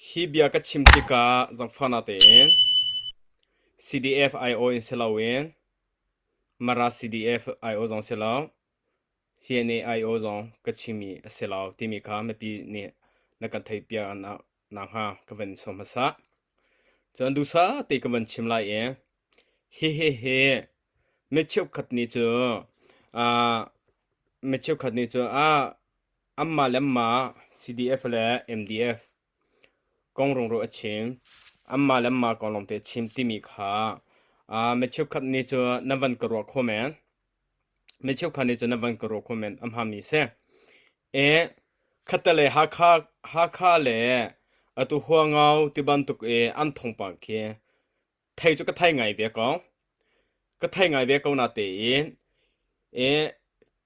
Hi bia ka chim tikah zangfahnak tein CDF aiawh in si loin Mara CDF aiawh zong si lo, CNA aiawh zong ka chimmi a si lo timi kha mipi nih na kan theihpiak nakhnga ka van sawm hmasa. Cun duhsah te ka van chim lai i hihihi mi cheukhat nih cu mi cheukhat nih cu Anmah le anmah CDF le MDF kong rungrul a chim. Anmah le anmah kong lawngte chim timi kha uh, mi cheukhat nih cu na van ka ruah kho men. Mi cheukhat nih cu na van ka ruah kho men am hami si. E khatte le Hakha Hakha le atu huangau ti bantuk i an thongpa khi thei cu ka thei ngai ve ko. Ka thei ngai ve ko na tein i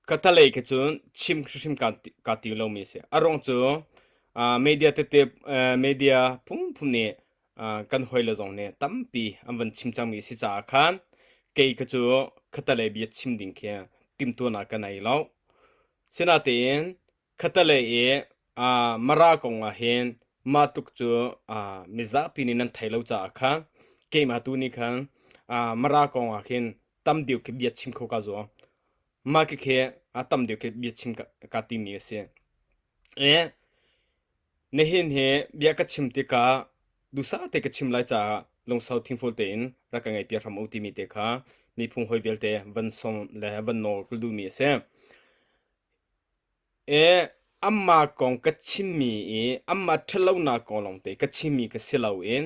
ka talei khi cun chim hrimhrim kaa ti- kaa tim lomi a si. A ruang cu ah media tete eh, media phunphun nih ah kan hawile zong nih tampi an van chim cangmi a si caah khan kei khi cu ka talei bia chim ding khi timhtuahnak ka nei lo. Sinatein Khatalei i aa Mara kongah hin mah tluk cu aa mizapi nih nan thei lo caah kha keimah tu nih khan aa Mara kongah khin tam deuh khi bia chim kho ka zuam. Mah khikhe a tam deuh khi bia chim ka, ka timi a si. E, nihin hi bia ka chim tikah duhsah te ka chim lai caah lungsau thingful tein rak ka ngaihpiak hram u timi te kha miphung hoi vialte van som le van nawl ka duhmi a si. E, anmah kong ka chimmi i anmah ṭhatlonak kong lawngte ka chimmi ka si loin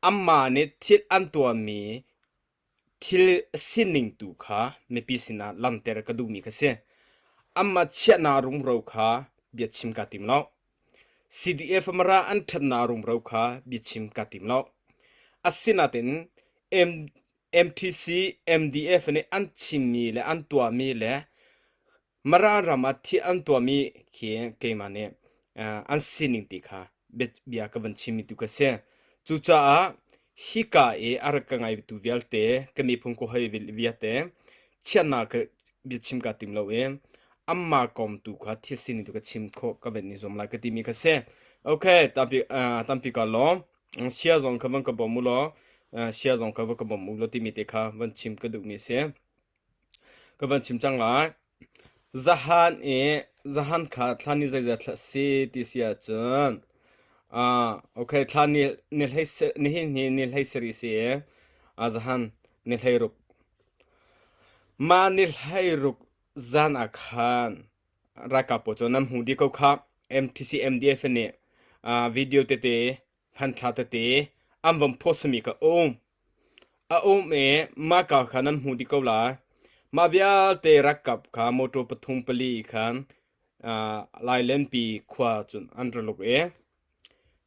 anmah nih thil an tuahmi thil sining tu kha mipi sinah langhter ka duhmi ka si. Anmah chiahnak rumro kha bia chim kaa tim lo. CDF mara an ṭhatnak rumro kha bia chim kaa tim lo. Asinain MTC, MDF nih an chimmi le an tuahmi le Mara ram ah thih an tuahmi khi keimah nih an sining ti kha bia ka van chimmi tu ka si. Cucaah hika i a rak ka ngaitu vialte ka miphun ko hoi vialte chiatnak ka bia chim ka tim lo i amma kawm tu kha thil sining tu ka chim khawh ka van ni zuam lai ka timi ka si. Okay tampi tampi ka lawm sia zong ka van ka bawm u law sia zong ka van ka bawm u law timi te kha van chim ka duhmi a si. Ka van chim cang lai. Zahan i zahan kha thlan i zeizat hlah si ti si ahcun ah okay thlan ni, ni hlei se- nihin hi ni hlei sarih si i ah zahan ni hlei ruk. Mah ni hlei ruk zan ah khan ralkap pawl cu nan hmu dih ko khah. MTC MDF nih ah video tete Hmanthlak tete an van phawsami ka um. A um i mahka kha nan hmu dih ko lai. Mah vialte rakkap kha motor pathum pali khan uh, lailenpi khua cun an ra luk i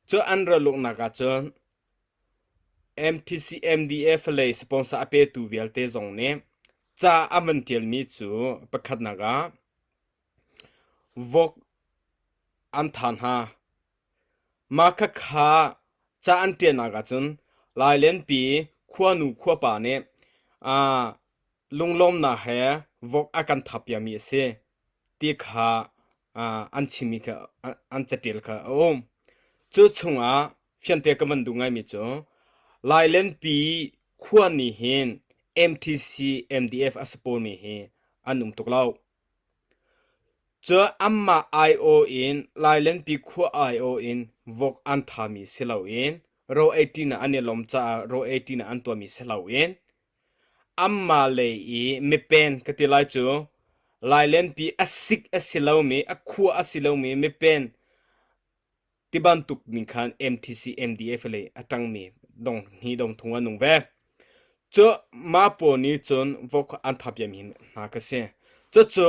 cu an ra luknak ah cun MTC MDF lei sponsor a petu vialte zong nih ca a van tialmi cu pakhatnak ah Vok an than hna. Mah khakha ca an ṭialnak ahcun lailenpi khuanu khuapa nih lunglawmnak he vok a kan thap piakmi a si ti kha an chimmi kha an caṭial kha a um. Cu chungah fiangte kan van duh ngaimi cu lailenpi khuani hin MTC MDF a si pawlmi hi an um tuk lo. Cun anmah aiawh in lailengpi khua aiawh in vok an thami si loin ro ei ṭinak an i lawm caah ro ei ṭinak an tuahmi si loin anmah lei i mipen ka ti lai cu lailengpi a sik a si lomi, a khua a si lomi mipen Ti bantuk ning khan MTC MDF le a tangmi dong hni dong thung an nung ve. Cu ma pawl nih cun vok an thapiam hin hna ka si. Cucu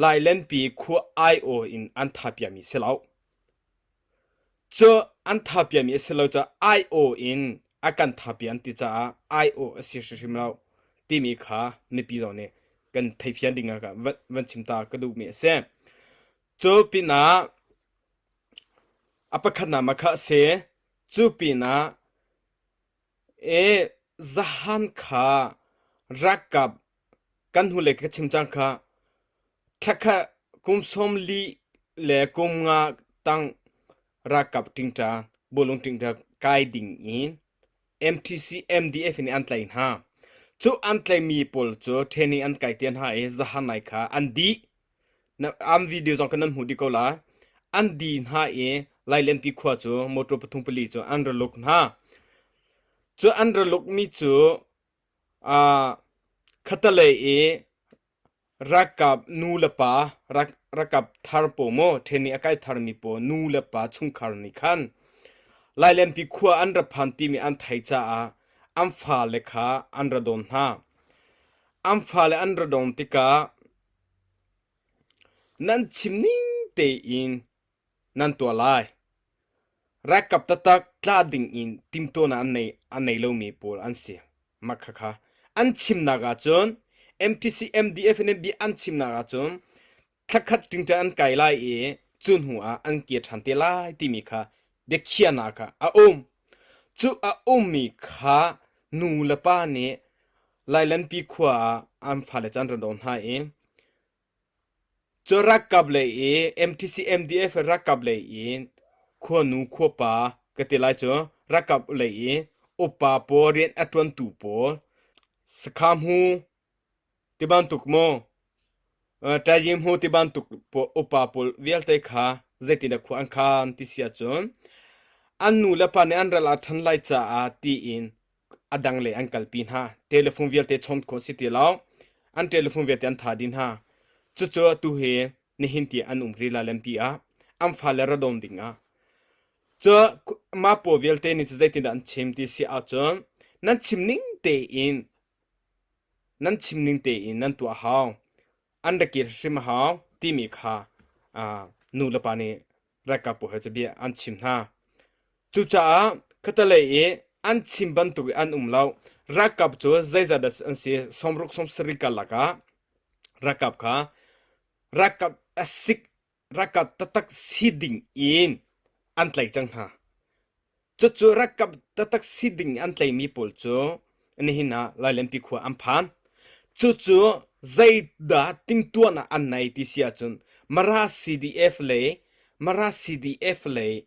lailenpi khu IO in an thapiami si lo. Cu an thapiami a si lo cu IO in a kan thapi an ti caah IO a si hrimhrim lo timi kha mipi zong nih kan theifian ding ah van chim ta ka duhmi a si. Cu pinah a pakhatnak makha a si. Cu pinah e zahan kha ralkap kan hnulei ka chim cang kha thla kha kum sawm li le kum nga tang ralkap ṭingṭa, bawlung ṭingṭa kai ding in MTC MDF in an tlaih hna. Cu an tlaihmi pawl cu training an kai te hna i zahan lai kha an dih. na am video zong kan nan hmu dih ko lai an di hna i lailenpi khua cu motor pathum pali cu an ra luk hna cu an ra luk mi cu a khatalei i rakap nu le pa rak rakap thar po mo ṭhen i a kai thar mi po nu le pa chungkhar nih khan lailenpi khua an ra phan timi an thai caah an fale kha an ra don hna an fale an ra don tikah Nan chim ning tein nan tuah lai. Ralkap taktak tla ding in timhtuahnak an nei, an nei lomi pawl an si. Mah khakha an chimnak ahcun MTC, MDF in NB an chimnak ahcun thla khat ṭingṭang an kai lai i cu hnu ah an kir ṭhan te lai timi kha biakhiahnak ah a um. Cu a ummi kha nu le pa nih lailanpi khua ah an fale can ran hna in cu rakkap le i MTC MDF rakkap le in khua nu khua pa ka ti lai cu rakkap le i upa pawl rian a tuantu pawl sakhamu Ti bantuk maw, ṭaizing hmu ti bantuk upa pawl vialte kha zeitindah khua an khan ti si ahcun an nu le pa nih an ral ah ṭhan lai caah tiin a dang le an kalpi hna. Telephone vialte chawn khawh a si ti lo. An telephone vialte an tha dih hna. Cucu atu hi nihin ti an um rila lempi ah an fale ra dawm ding ah. Cu mah paw vialte nih cu zeitindah an chim ti si ahcun nan chim ning tein nan chim ning tein nan tuah hau an rak kir hrim a hau timi kha nulepa nih ralkapbu he cabia an chim hna. Cucaah khatalei i an chim bantuk i an um lo ralkap cu zeizat dah an si somruk somsari karlak ah ralkap kha ralkap asik Rakat tatak si ding in an tlai cang hna. Cucu rakap tatak si ding an tlaimi pawl cu nihin ah lailenpi khua an phan. Cucu zeidah timtuahnak an nei ti si ahcun Mara CDF lei Mara CDF lei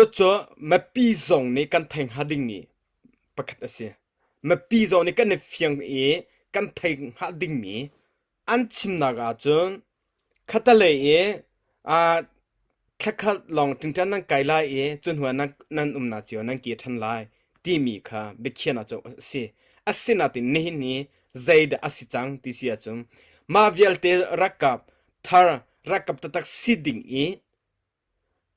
Cucu mipi zong nih kan thei hnga dingmi pakhat a si. Mipi zong nih kan i fiang i kan thei hnga dingmi an chimnak ahcun khatalei i aa thlakhat lawng ṭingṭan nan kai lai i cu hnuah nan, nan umnak cio nan kir ṭhan lai timi kha biakhiahnak cu a si. Asinain nihin hi zeidah a si cang ti si ahcun mah vialte ralkap thar ralkap taktak si ding i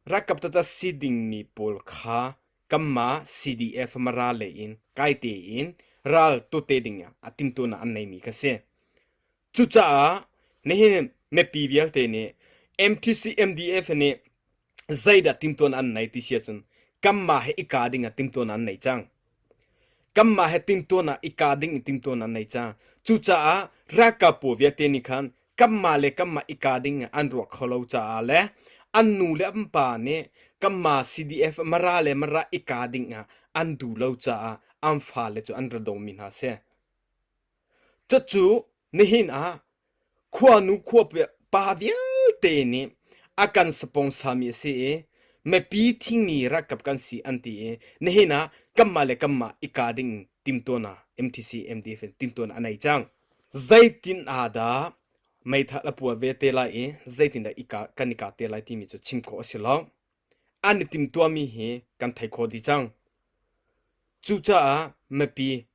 Ralkap tata si dingmi pawl kha kanmah CDF Mara lei in kai tein ral tute dingah a timtunak an neimi ka si. Cucaah nihin mipi vialte nih MTC MDF nih zeidah timtuan an nei ti si ahcun kanmah he i kaa dingah timtuan an nei cang. Kanmah he timtuan ah i ka ding in timtuan an nei cang. Cucaah ralkap pawl vialte nih khan kanmah le kanmah i ka ding in an ruak kho lo caah le an nu le an pa nih kanmah CDF Mara le Mara i ka ding ah an duh lo caah an fale cu an ra dawmi hna a si. Cucu nihin ah Khuanu khuapek pa vialte nih a kan sponsarmi a si i mipi thingmi rakkap kan si an ti i nihin ah kanmah le kanmah i kaa ding timtuahnak MTC MDF in timtuahnak a nei cang. Zeitin ah dah meithal a puah ve te lai i zeitin dah i ka, kan i kaa te lai timi cu chim khawh a si lo. An i timtuahmi hi kan thei khawh dih cang. Cucaah mipi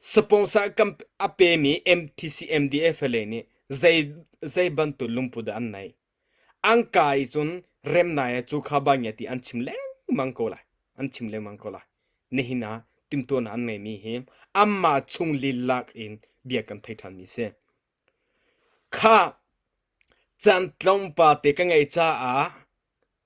Sponsor a pemi MTCMDF le nih zei bantuk lungput dah an neih. An ka i cun remnai cu kha bangia ti an chim lengmang ko lai. An chim lengmang ko lai. Nihin ah timhtuahnak an ngeimi hi anmah chung lilak in bia kan thei ṭhanmi a si. Kha can tlawmpate ka ngeih caah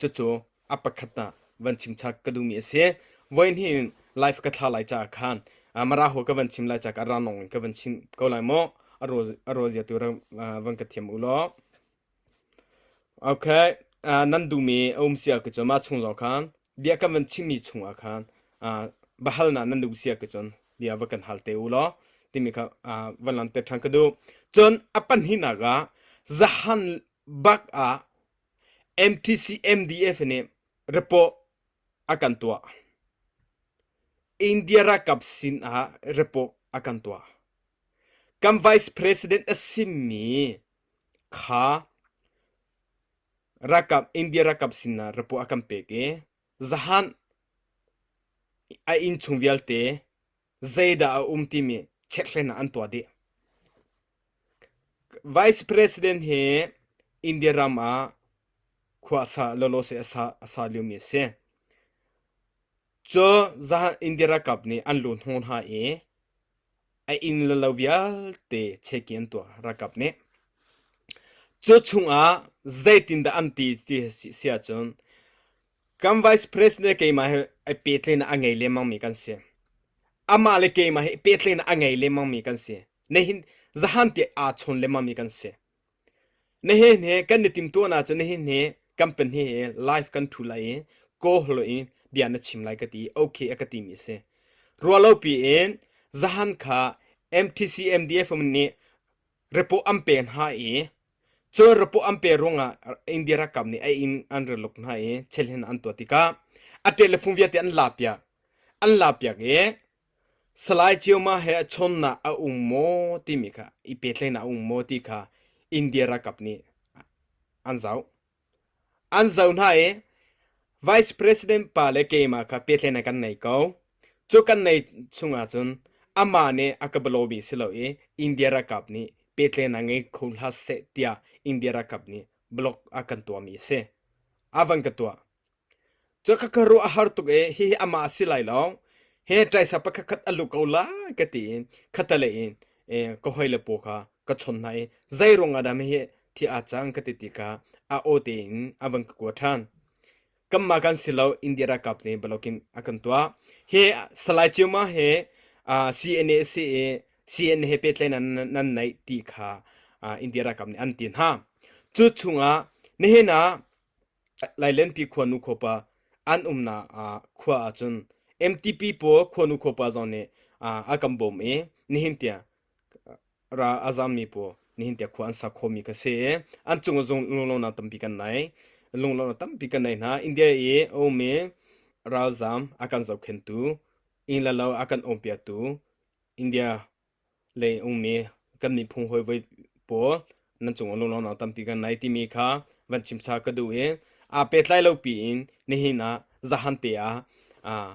Cucu a pakhat ah van chimchak ka duhmi a si. Voihnih in live ka thla lai caah khan mara hua ka van chim lai caah ranong in ka van chim ko lai maw a rawl zia tu van ka thiam u law okay nan duhmi a um si ahcun mah chung zong khan bia kan van chimmi chungah khan va hal na nan duh si ahcun bia va kan hal te u law timi kha van lan te ṭhan ka duh cun a pahnih nak ah zahan bak ah MTC-MDF nih report a kan tuah. India ralkap sin ah report a kan tuah. Kan vice president a simi kha ralkap India ralkap sin ah report a kan pek i zahan a inn chung vialte Zeidah a um timi chekhlen ah an tuah dih. Vice President hi India ram ah khua asa lolo se asa asa liomi a si. Cu zahan India rakap nih an lun hung hna i a inn le lo vialte cheki an tuah rakap nih. Cu chungah zeitin dah an ti ti si ahcun kan vice president le keimah hi ai pehtlenak a ngei lengmang mi kan si amah le keimah hi pehtlenak a ngei lengmang mi kan si na hin zahan te aa chon lengmang mi kan si na hin he kan ni tim tuan ah cun na hin he company he live kan thu lai i ko hlo in bia na chim lai ka ti okay a ka ti mi a si rualo pi in zahan kha MTC MDF nih report an pek hna i Cun rapo an pe ruangah India ralkap nih a inn an ra luk hna i chelhin an tuah tikah a ṭet le fung vialte an la piak. An la piak i Salai Ceuma he a chawnnak a um maw timi kha i pehtlaihnak a um maw ti kha India ralkap nih an zoh. An zoh hna i Vice President pa le keimah kha pehtlai in kan nei ko. Cu kan nei chung ahcun amah nih a ka bia lawmi si lo i India ralkap nih pehtlaihnak ngei kho hlah seh tiah India ralkap nih blog a kan tuahmi a si. A van ka tuah. Cu ka ka ruah a har tuk i hihi amah a si lai lo. Hi ṭaisa pakhatkhat a lu ko lai ka ti i khatalei in i ka hawile paw kha ka chon hna i zei ruangah dah hihi thi aa cang ka ti ti kha a aw tein a van ka kuat ṭhan. Kanmah kan si lo India ralkap nih balokin a kan tuah. Hi Salai Ciuma hi aa CNA a si i CNA he pehtlaihnak nan neih ti kha aa India ralkap nih an ti hna. Cu chungah nihin ah Lailenpi khua nu khopa an umna khua ah cun MTP pawl khua nu khopa zong nih a kan bawm i nihin tiang ra a zammi pawl nihin tiang khua an sa khomi ka si i an cung zong lunglonak tampi kan nei lunglonak tampi kan nei hna India i a ummi ralzam a kan zohkhentu inn le lo a kan umpiaktu India lei ummi kan miphung hawi pawl nan cung ah lunglawmnak tampi kan nei timi kha van chim sa ka duh i aa pehtlai lo piin nihin ah zahan te ah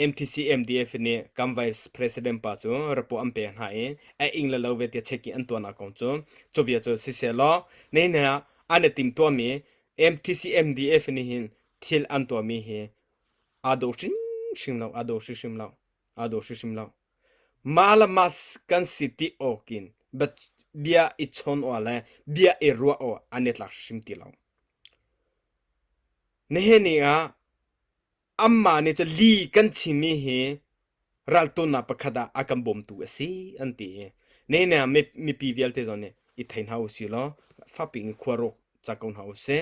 MTC MDF nih kan vice president pa cu report an pek hna i a ing le lo ve tia check i an tuahnak kong cu cuvia cu si se law nihin ah an i tim tuahmi MTC MDF nih hin thil an tuahmi hi aa do hrim hrim lo aa do hrimhrim lo a daw hrimhrim lo. Mah le mah kan si ti awk in bia i chawn awah le bia i ruah awah an i tlak hrim ti lo. Nihin ni ah amma nih cu li kan chimi hi raltunak pakhat ah a kan bawmtu a si an ti i ne ne mipi vialte zon nih i thei hna u si law fapi in khua ruk ca ko hna u sih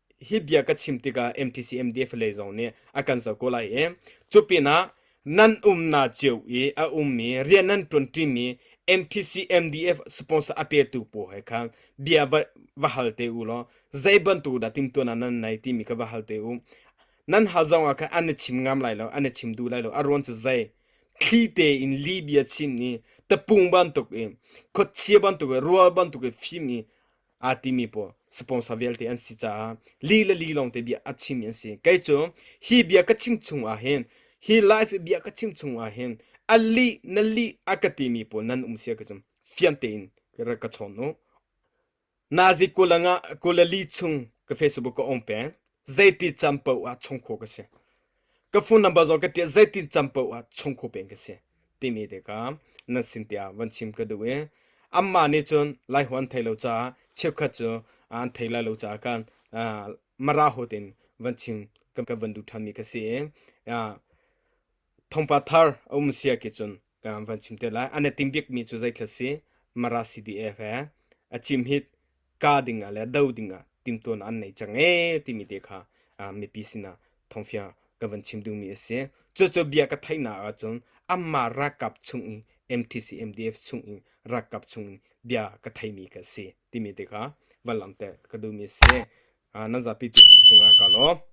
hi bia ka chim tikah MTCMDF lei zong nih a kan zo ko lai i cu pinah nan umna cio i a ummi rian nan ṭuanṭimi MTCMDF sponsor a petu pawl he khan bia va, va hal te u law zei bantuk dah timtuana nan nei timi kha va hal te u nan hal zongah khan an na chim ngam lai lo an na chim duh lai lo a ruan cu zei thli tein li bia chim i tapung bantuk i khuachia bantuk i rual bantuk i fim i aa timi pawl sponsor vialte an si caah li le li lawng te bia a chimmi an si kei cu hi bia ka chim chung ah hin hi life bia ka chim chung ah hin a li na li a ka timi pawl nan um sia ka cum fian tein ka chon nu nazi kulanga kulali chung ka facebook ka om peng zeiti champo ah chung kho ka si ka phone number zo ka tiah zeitin cam poh ah chungkhu peng ka si timi te ka nan sin tiah van chim ka duh i amma nih cun lai huan thei lo caah chiefkhat cu an thei lai lo caah kan mara hotin van chim kan van duh ṭhanmi ka si i thongpa thar a um sia ki cun van chim te lai an tim bik mi cu zeitlal si mara CDF he a chim hi ka ding ah le do ding ah tim tuan an nei chang e timi te kha mipi sinah thongfia ka van chim ding mi a si cu cu bia ka theina ah cun amma rakap chung i MTC MDF chung i rakap chung i bia ka theimi ka si timi te kha van lam te ka du mi si nan zapi tu cunga ka lo